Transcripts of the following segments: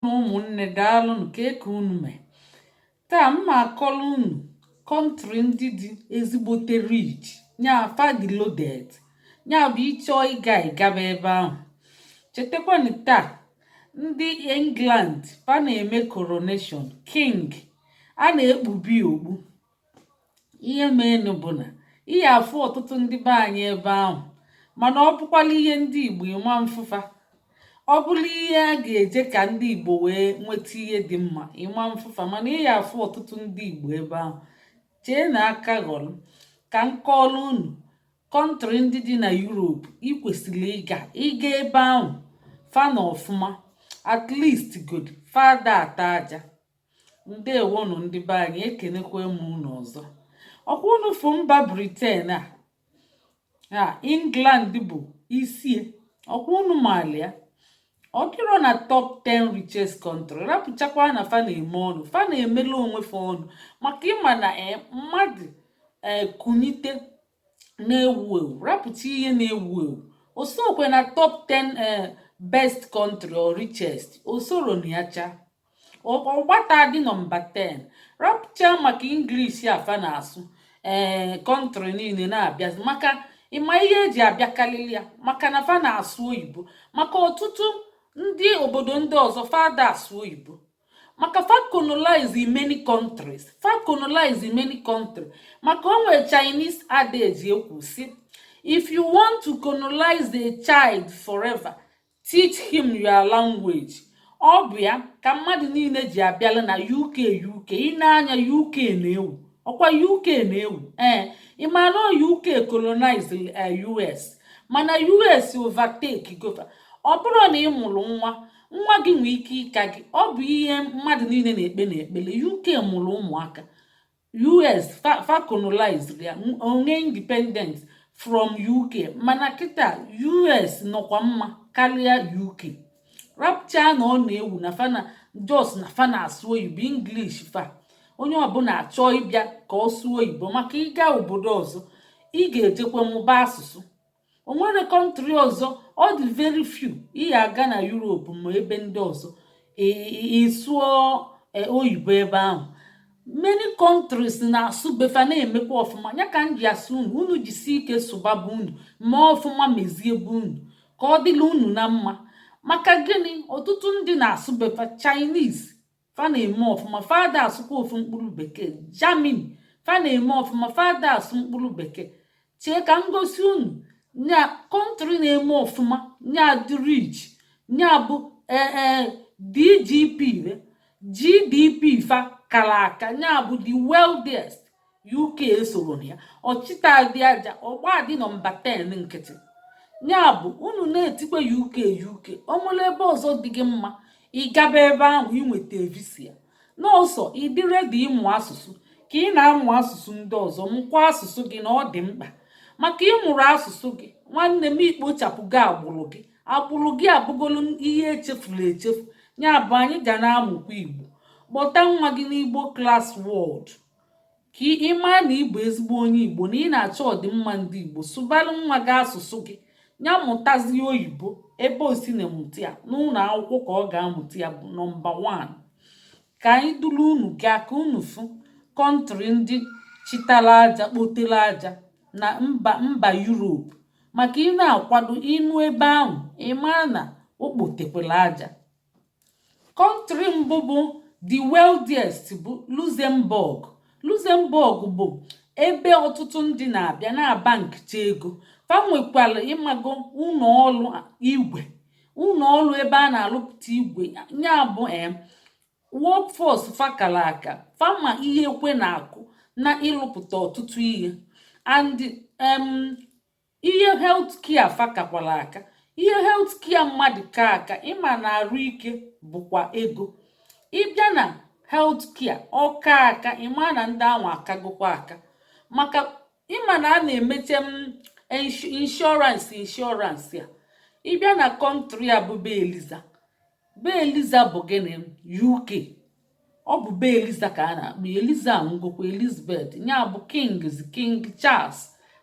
na ụmụnne daalụnụ kee ka unu mee taa m ma-akọlụ unu kọntrị ndị dị ezigbote rich nya fa dị loaded nya bụ ị chọọ ịga ị gaba ebe ahụ chetakwanụ taa ndị england fa na-eme coronation king a na-ekpube okpu ihe meenụ bụ na ị ya afụ ọtụtụ ndị be anyị ebe ahụ mana ọ bụkwalụ ihe ndị Igbo ị ma-afụ fa ọ bụrụ ihe a ga-eje ka ndị Igbo wee nweta ihe dị mma ị ma-afụ fa mana ị ya afụ ọtụtụ ndị Igbo ebe ahụ chee na aka ghọrọ ka m kọọrọ unu kọntrị ndị dị na Europe ị kwesịrị ịga ị gaa ebe ahụ fa nọ ọfụma at least good fa ada ata aja ndeewonụ ndị be anyị ekenekwa m unu ọzọ ọkwa unu fụ mba britain a a england bụ isie ọkwa unu maalụ ya ọ dịrọ na top 10 richest country rapụchakwa na fa na-eme ọnụ fa na-emela onwe fa ọnụ maka ị ma na eh, mmadụ eh, kunite na-ewu ewu rapụcha ihe na-ewu ewu o sokwe na top 10 eh, best country or richest o sorọ na ya chaa ọ gbatadị nọmba 10 rapụcha maka English a fa na-asụ ee eh, kọntrị niile na-abịazi maka ị ma ihe e ji abịakarịrị ya maka na fa na-asụ oyibo maka ọtụtụ ndị obodo ndị ọzọ fa ada asụ oyibo maka fa colonize many countries fa colonize many countries maka o nwere Chinese adage ekwu sị if you want to colonize a child forever teach him your language ọ bụ ya ka mmadụ niile ji abịala na uk uk ị na-anụ ya uk na-ewu ọkwa uk na-ewu ee ị ma na uk colonize eh, us mana us overtake go fa ọ bụrụ na ị mụrụ nwa nwa gị nwee ike ịka gị ọ bụ ihe mmadụ niile na-ekpe n'ekpele uk mụrụ ụmụaka us fa colonized ya o nwee independent from uk mana kịtaa us nọkwa mma karịa uk rapụcha na ọ na-ewu na fa na just na fa na-asụ oyibo english fa onye ọbụla achọọ ịbịa ka ọ sụọ oyibo maka ị gaa obodo ọzọ ị ga-ejekwa mụba asụsụ o nwere kọntrị ọzọ ọ dị very few ị ya aga na Europe ma ebe ndị ọzọ ị sụọ e, oyibo ebe ahụ many countries na-asụ be fa na-emekwa ọfụma ya ka m ji asị unu unu jisi ike sụba be unu mee ọfụma mezie be unu ka ọ dịlị unu na mma maka gịnị ọtụtụ ndị na-asụ be fa Chinese fa na-eme ọfụma fa ada asụkwa ofu mkpụrụ bekee Germany fa na-eme ọfụma fa ada asụ mkpụrụ bekee chee ka m gosi unu nya kọntrị na-eme ọfụma nya dị rich nya bụ ee e, DGP GDP fa kara aka nya bụ the wealthiest uk esoro ya ọ chịtadị aja ọ gbadị nọmba 10 nkịtị nya bụ unu na-etikwa uk uk ọ nwere ebe ọzọ dị gị mma ị gaba ebe ahụ i nweta visa n'ọsọ ị dị redi ịmụ asụsụ ka ị na-amụ asụsụ ndị ọzọ mụkwa asụsụ gị na ọ dị mkpa maka ị mụrọ asụsụ gị nwanne m i kpochapụgo agbụrụ gị agbụrụ gị abụgolu ihe echefuru echefu nya bụ anyị ga na-amụkwa igbo kpọta nwa gị n'igbo klas wọdụ ka ị maa na ị bụ ezigbo onye igbo na ị na-achọ ọdịmma ndị igbo sụbalụ nwa gị asụsụ gị ya mụtazie oyibo ebe o si na-emụta ya n'ụlọ akwụkwọ ka ọ ga-amụta ya bụ nọmba 1 ka anyị duru unu gaa ka unu fụ kọntrị ndị chịtara aja kpotere aja na mba mba yuropu maka ị na-akwado ịnọ ebe ahụ ị maa na o kpotekwere aja kọntrị mbụ bụ the wealthiest bụ Luxembourg Luxembourg bụ ebe ọtụtụ ndị na-abịa na-abankịcha ego fa nwekwara ị mago ụlọ ọrụ igwe ụlọ ọrụ ebe a na-alụpụta igwe nya bụ em workforce fa kara aka fa ma ihe ekwe na-akụ na ịlụpụta ọtụtụ ihe and em ihe health care fa kakwara aka ihe health care mmadụ ka aka ị ma na arụ ike bụkwa ego ị bịa na health care ọ ka aka ị ma na ndị ahụ akagokwa aka maka ị ma na a na-emeche em insurance insurance ya ị bịa na kọntrị a bụ be eliza be eliza bụ gịnị uk ọ bụ be eliza ka a na-akpọ eliza anwụgokwa elizabeth nya bụ kings king charles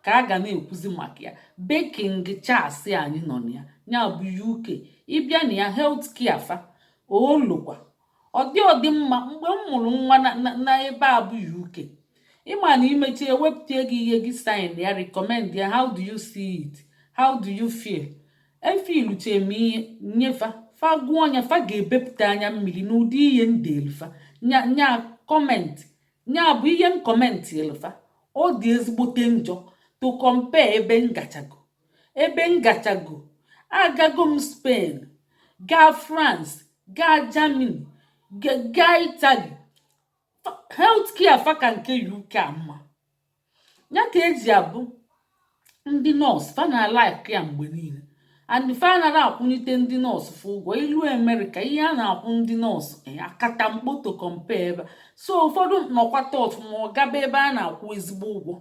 ka a ga na-ekwuzi maka ya be king charles anyị nọ na ya nya bụ uk ị bịa na ya health care fa olokwa ọ dị ọ dị mma mgbe m mụrụ nwa na ebe a bụ uk ị ma na i mecha e wepụta gị ihe gị sign ya recommend ya how do you see it how do you feel efiluche m ihe nye fa fa gụọ nya fa ga-ebepụta anya mmiri n'ụdị ihe m delu fa nya nya kọmentị nya bụ ihe m kọmentịelu fa ọ dị ezigbote njọ to compare ebe m gachago ebe m gachago agago m spain gaa france gaa germany ga- gaa italy health care fa ka nke uk a mma ya ka eji abụ ndị nọọsụ fa na-alike ya mgbe niile and fa anaghị akwụnyite ndị nọọsụ fa ụgwọ ilu amerịka ihe a na-akwụ ndị nọọsụ eh, akata mkpoto compare ebe a so ụfọdụ nọkwata ọfụma ọ gaba ebe a na-akwụ ezigbo ụgwọ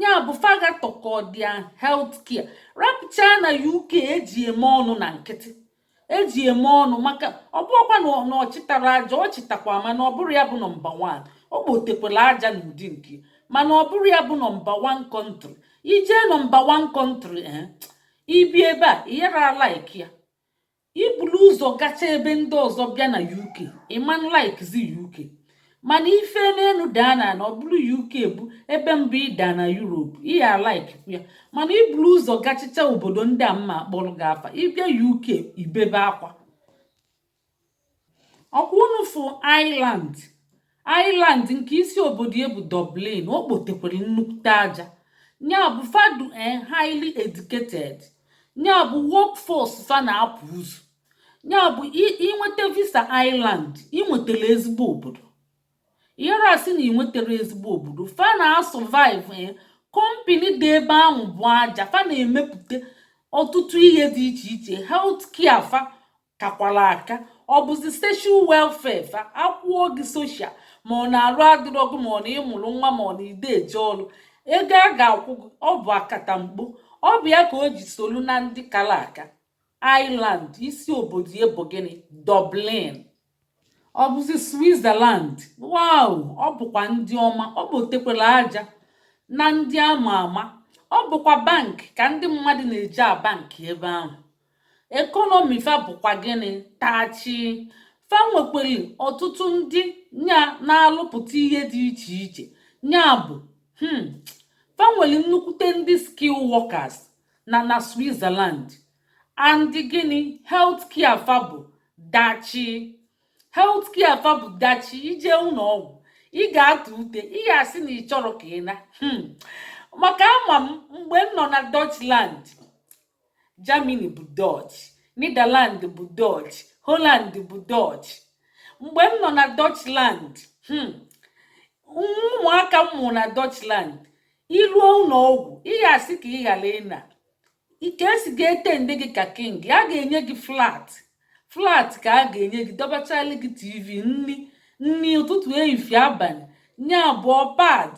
ya bụ faga tọkọ their health care rapụchaa na uk eji eme ọnụ na nkịtị eji eme ọnụ maka ọ bụrụkwa na ọ chịtara aja ọ chịtakwa mana ọ bụrụ ya bụ number one o kpotekwala aja n'ụdị nke ya mana ọ bụrụ ya bụ number one country i jee number one country eh, ibi ebe a ị yara like ya i bulu ụzọ gacha ebe ndị ọzọ bịa na uk ị manụ likezi uk mana i fe n'enu daa na na ọ bụrụ uk bụ ebe mbụ ị da na europe ị ya-alike ya mana i buru ụzọ gachicha obodo ndị a m na-akpọrọ gị afa ị bịa uk i bebe akwa ọkwa unu fụ ireland ireland nke isi obodo ya bụ dublin o kpotekwere nnukwute aja ya bụ fa dị eh, highly educated ya bụ workforce fa na-apụ ụzọ ya bụ i nweta visa ireland i nwetara ezigbo obodo ị yara asị na i nwetara ezigbo obodo fa na-asurvive eh, kọmpini dị ebe ahụ bụ aja fa na-emepụta ọtụtụ ihe dị iche iche health care fa kakwara aka ọ bụzi social welfare fa akwụọ gị social ma ọ na arụ adịrọ gị ma ọ na ị mụrụ nwa ma ọ na ị da eje ọrụ ego a ga-akwụ gị ọ bụ akatamkpo ọ bụ ya ka o ji solu na ndị kara aka Ireland isi obodo ya bụ gịnị Dublin ọ bụzi Switzerland wow ọ bụkwa ndị ọma o kpotekwere aja na ndị ama ama ọ bụkwa bank ka ndị mmadụ na-eje abank ebe ahụ ekọnọmi fa bụkwa gịnị tachi fa nwekwere ọtụtụ ndị nya na-alụpụta ihe dị iche iche nya bụ hmm, fa nwere nnukwute ndị skill workers na na Switzerland and gịnị health care fa bụ dachi health care fa bụ dachi i je ụnọ ọgwụ ị ga-atụ ute ị ga-asị na ị chọrọ ka ị na hmm. maka ama m mgbe m nọ na Dutchland Germany bụ Dutch Netherland bụ Dutch Holland bụ Dutch mgbe m nọ na Dutchland hmm, ụmụaka m mụrụ na Dutchland i luo ụnọ ọgwụ ị ga-asị ka ị ghara ịna ka e si ga-attend gị ka king a ga-enye gị flat flat ka a ga-enye gị dọbachali gị tv nri nri ụtụtụ efifie abanị ya abụọ pad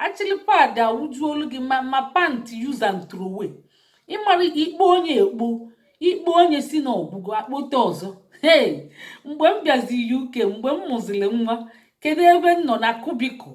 achịlị pad awụjuolu gị ma ma pantị use and throw away ị mara ikpo onye ekpo ikpo onye sị na ọ gwụgo akpote ọzọ hey mgbe m bịazi uk mgbe m mụziri nwa kedu ebe m nọ na cubicle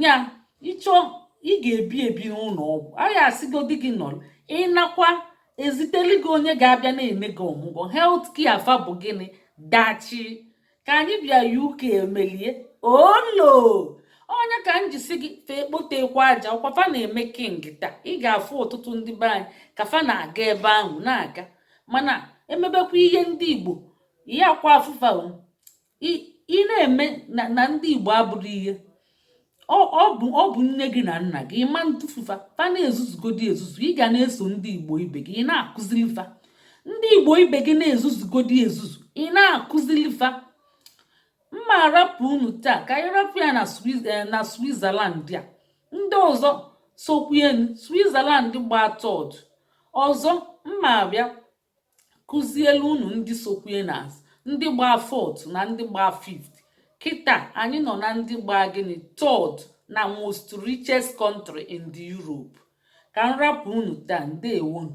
nya ịchọ ị ga-ebi ebi n'ụnọ ọgwụ a ya-asịgodi gị nọrọ ịnakwa eziteli gị onye ga-abịa na-ene gị ọmụgwọ healthcare fa bụ gịnị dachi ka anyị bịa UK emelie olo onye ka m jisi gị fa ekpotekwa aja ọkwa fa na-eme kịtaa ị ga-afụ ọtụtụ ndị be anyị ka fa na-aga ebe ahụ na-aga mana emebekwa ihe ndị igbo yakwa afụ fa ị na-eme na ndị igbo abụrọ ihe ọ bụ nne gị na nna gị ị ma ntụfu fa fa na-ezuzugodi ezuzu ị ga na-eso ndị igbo ibe gị ị na-akụzili fa ndị igbo ibe gị na-ezuzugodi ezuzu ị na-akụzili fa mma arapụ unu taa ka anyị rapụ ya na eh, switzerland a ndị ọzọ sokwuenu switzerland gbaa third ọzọ mma abịa kụzielu unu ndị sokwue na ndị gbaa fourth na ndị gbaa fifth kịta anyị nọ na ndị gbaa gịnị third na most richest country in the Europe ka m rapụ unu taa ndewonu